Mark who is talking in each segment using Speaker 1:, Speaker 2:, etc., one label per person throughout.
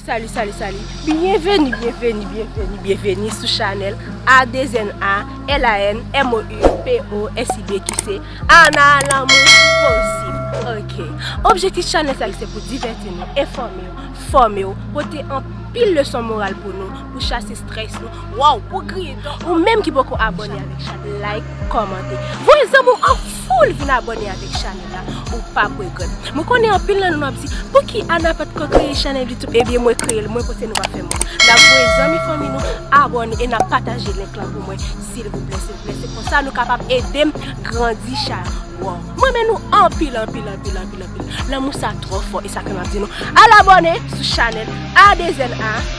Speaker 1: Salut, salut, salut. Bienvenue, bienvenue, bienvenue, bienvenue sou chanel A2NA L-A-N-M-O-U-P-O-S-I-B ki se Ana Lanmou Posib. Ok. Objektif chanel sa se pou diverti nou, informe nou, forme nou, pote an pil leson moral pou nou, pou chase stress nou, Waw pou griye dan ou. Ou menm ki poko abone avek chanel like komante voye zanmi w an foul vin abone avek chanel la ou pap regret mwen konnen anpil nan nou ap di pouki Ana patko kreye chanel youtube ebyen mwen kreyel mwen pote nou pa fè mank nap voye zanmi fanmi nou abone e nap pataje link lan pou mwen silvouplè silvouplè se konsa nou kapab edem grandi chanel waw m renmen nou anpil anpil anpil anpil lanmou sa tro fò esa fè map di nou al abone sou chanel a2zen a.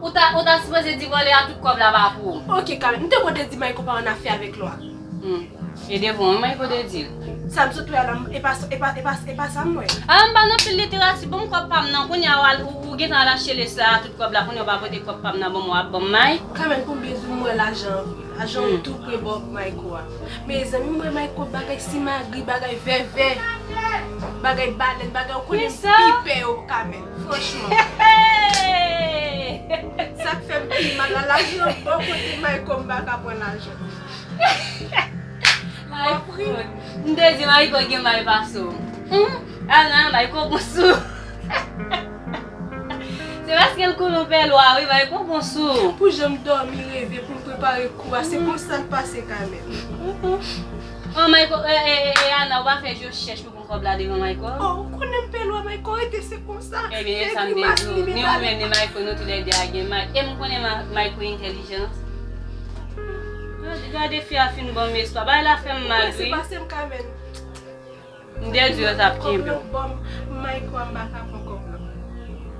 Speaker 2: Ou ta ou ta sipoze di vòlè a tout kòb la pa pou ou. Ok Carmen, m te konte
Speaker 1: di Mayko pa annafè avèk Lwa. Hum. E
Speaker 2: de bon wi Mayko te dil. Sa m sot wè a la
Speaker 1: m e pa e pa e pa e pa sa m wè. A la m pa nan
Speaker 2: fil literati banm kòb pam nan kounye a wal ou ou gentan al achte lesa a tout kòb la kounye a w pa pote kòb pam nan banm wap banm may. Carmen pou m gen zoom m
Speaker 1: wè lajan an vre. Lajan yo tou pre bò Mayko a. Mezanmi m wè Mayko bagay simagri bagay vèvè bagay balèn bagay ou konnen m pi pè yo Carmen. Franchman. Sak fem pi mal la lajan bon kote mayko m paka pran lajan.
Speaker 2: Wap ri. M te di mayko gen may pase w. Humm al nan mayko gon sou. Se paske l konnen w pè lwa wi mayko gon sou. Pou jan m domi
Speaker 1: reve pou m prepare kou a se konsa l pase kanmenm.
Speaker 2: An mayko e ana ou pa fe je chech pou. Kob la devan mayko. Oh ou konnen m pe lwa
Speaker 1: mayko rete se konsa. Ebyen e sam te di w
Speaker 2: ni ou menm ni mayko nou tou lè 2 a gen may e m konnen mayko entèlijan. Gade fi a fin banm espwa bagay la fèm mal wi. Ou prese pase m kamèn.
Speaker 1: M
Speaker 2: te di w yo tap kenbe w. Kob lan banm mayko
Speaker 1: anba kapon kob lan.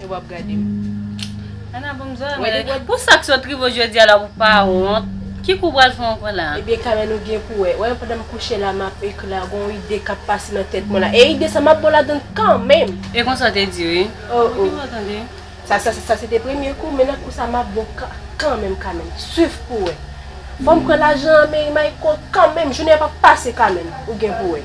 Speaker 1: E wap gadem. Ana
Speaker 2: banm zòrèy mwen la. Pou sak sot rivew jodia la ou pa wont. Ki kou pral fè ankò la. Ebyen Carmen ou
Speaker 1: gen
Speaker 2: pou
Speaker 1: wè. Wè pandan m kouche la map ekri la gon ide kap pase nan tèt mwen la. E ide sa map bon ladann kanmenm. E konsa w te di wi.
Speaker 2: Oh oh. Sa
Speaker 1: se te premye kou men nan kou sa map bon kanmenm Carmen. Swiv pou wè. Fòm pran lajan an men Mayko kanmenm jounen an pap pase Carmen. Ou gen pou wè.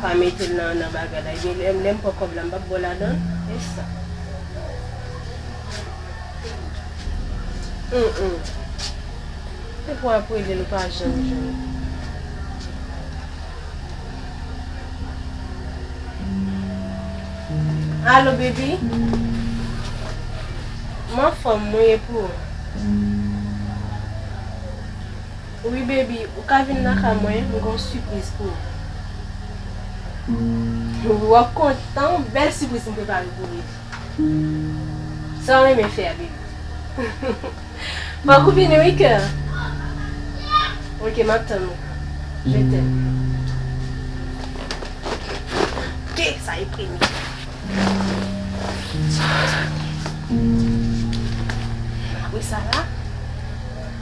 Speaker 1: Pa metel nan nan bagay la ebyen lè lèm pran kòb la m pap bo ladanl esa humm depwa wap relel ou pa janm jwenn. Allo baby m anfòm mwen ye pou ou. Wi baby ou ka vin nan kay mwen m gon sipriz pou ou. Wi wap kontan wi bèl sipriz m prepare pou Riv. Sa w renmen fè a baby. Fòk ou vini wi kè. Ok map tann ou je t'aime. Gade sa e premye. Mwen sa la.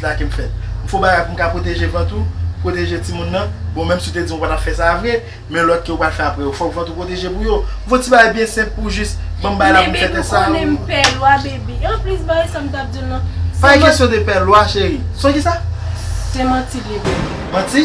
Speaker 3: la kem fè m fo bagay poum ka pwoteje vant ou pwoteje timoun nan bon menm si ou te dim ou pa tap fè sa vre men lòt ke ou pral fè aprè yo fòk vant ou pwoteje pou yo m fon ti bagay byen senp pou jis banm bay la poum fè tès sa ou.
Speaker 1: Pa gen kesyon de pè
Speaker 3: lwa cheri. Son kisa? Se manti
Speaker 1: li ye baby. Manti?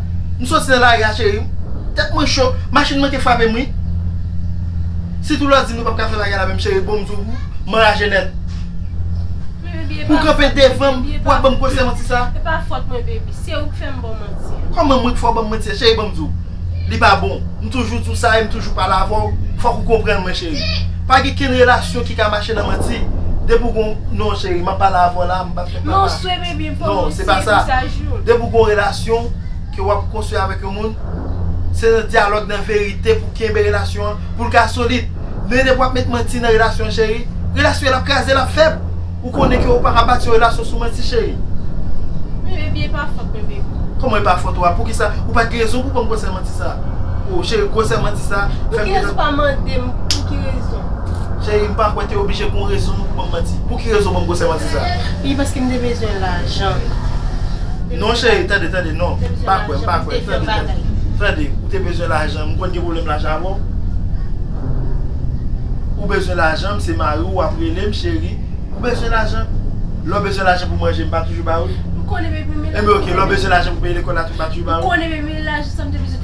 Speaker 3: M soti nan lari a cheri m. Tèt mwen cho, machin manke frape m wi. Si tou lò di m nou pap ka fè bagay la menm cheri bon m zou
Speaker 1: ou,
Speaker 3: m anraje nèt. Men baby e pa fòt mwen baby. Pou w kanpe devan m, pou w ap ban m konsèy manti sa. E pa fòt mwen baby,
Speaker 1: se ou k fè m ba w manti an. Kòman mwen k fè w ban m manti
Speaker 3: an cheri ban m di w. Li pa bon, m toujou di w sa e m toujou pale avè w, fòk ou konprann mwen cheri. Pa gen kenn relasyon ki ka mache nan manti, depi w gon non cheri m ap pale avè w la, m pap fè papa. Non,
Speaker 1: se pa
Speaker 3: sa. Depi ou gen yon relasyon ke wap konstwi avèk yon moun, se nan dyalòg, nan verite pou kenbe relasyon an, pou l ka solid. Men depi wap met manti nan relasyon an cheri, relasyon an ap kraze, l ap fèb. Ou konnen ke ou pa ka bati yon relasyon sou manti cheri. Men baby, e
Speaker 1: pa fòt mwen baby. Kòman e pa fòt ou a?
Speaker 3: Poukisa? Ou pat gen rezon pou banm gwosè manti sa. Oh cheri, gwosè manti sa fèm gen. Poukirèz ou pa
Speaker 1: mandem pou ki rezon? Cheri, m pa
Speaker 3: kwè te oblije gen yon rezon pou banm manti. Pou ki rezon ou banm gwosè manti sa? Wi paske m te
Speaker 1: bezwen lajan.
Speaker 3: Non cheri tande tande non m pa kwè m pa kwè tande tande ou te bezwen lajan m konn gen pwoblèm lajan avè w ou bezwen lajan m se mari w wap rele m cheri ou bezwen lajan lè w bezwen lajan pou manje m pa toujou ba ou
Speaker 1: m konnen bebe m konnen m pa
Speaker 3: toujou ba ou m konnen bebe m pa toujou ba ou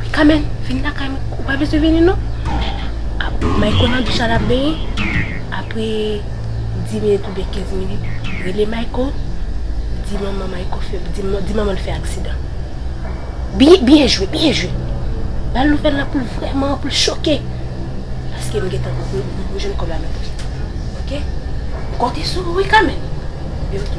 Speaker 1: Wi Kamèn, vin lakay mwen. Ou pa bezwen vini non. Mayko nan douch la l ap benyen. Apre dis minit oubyen kenz minit, rele Mayko, di manman Mayko fè, di manman l fè aksidan. Byen jwe, byen jwe! Ba l nouvèl la pou l vrèman, pou l choke. Paske m gentan, m jwenn kòb la nan pòch mwen. Ok? M konte sou ou wi Kamèn. Li di ok.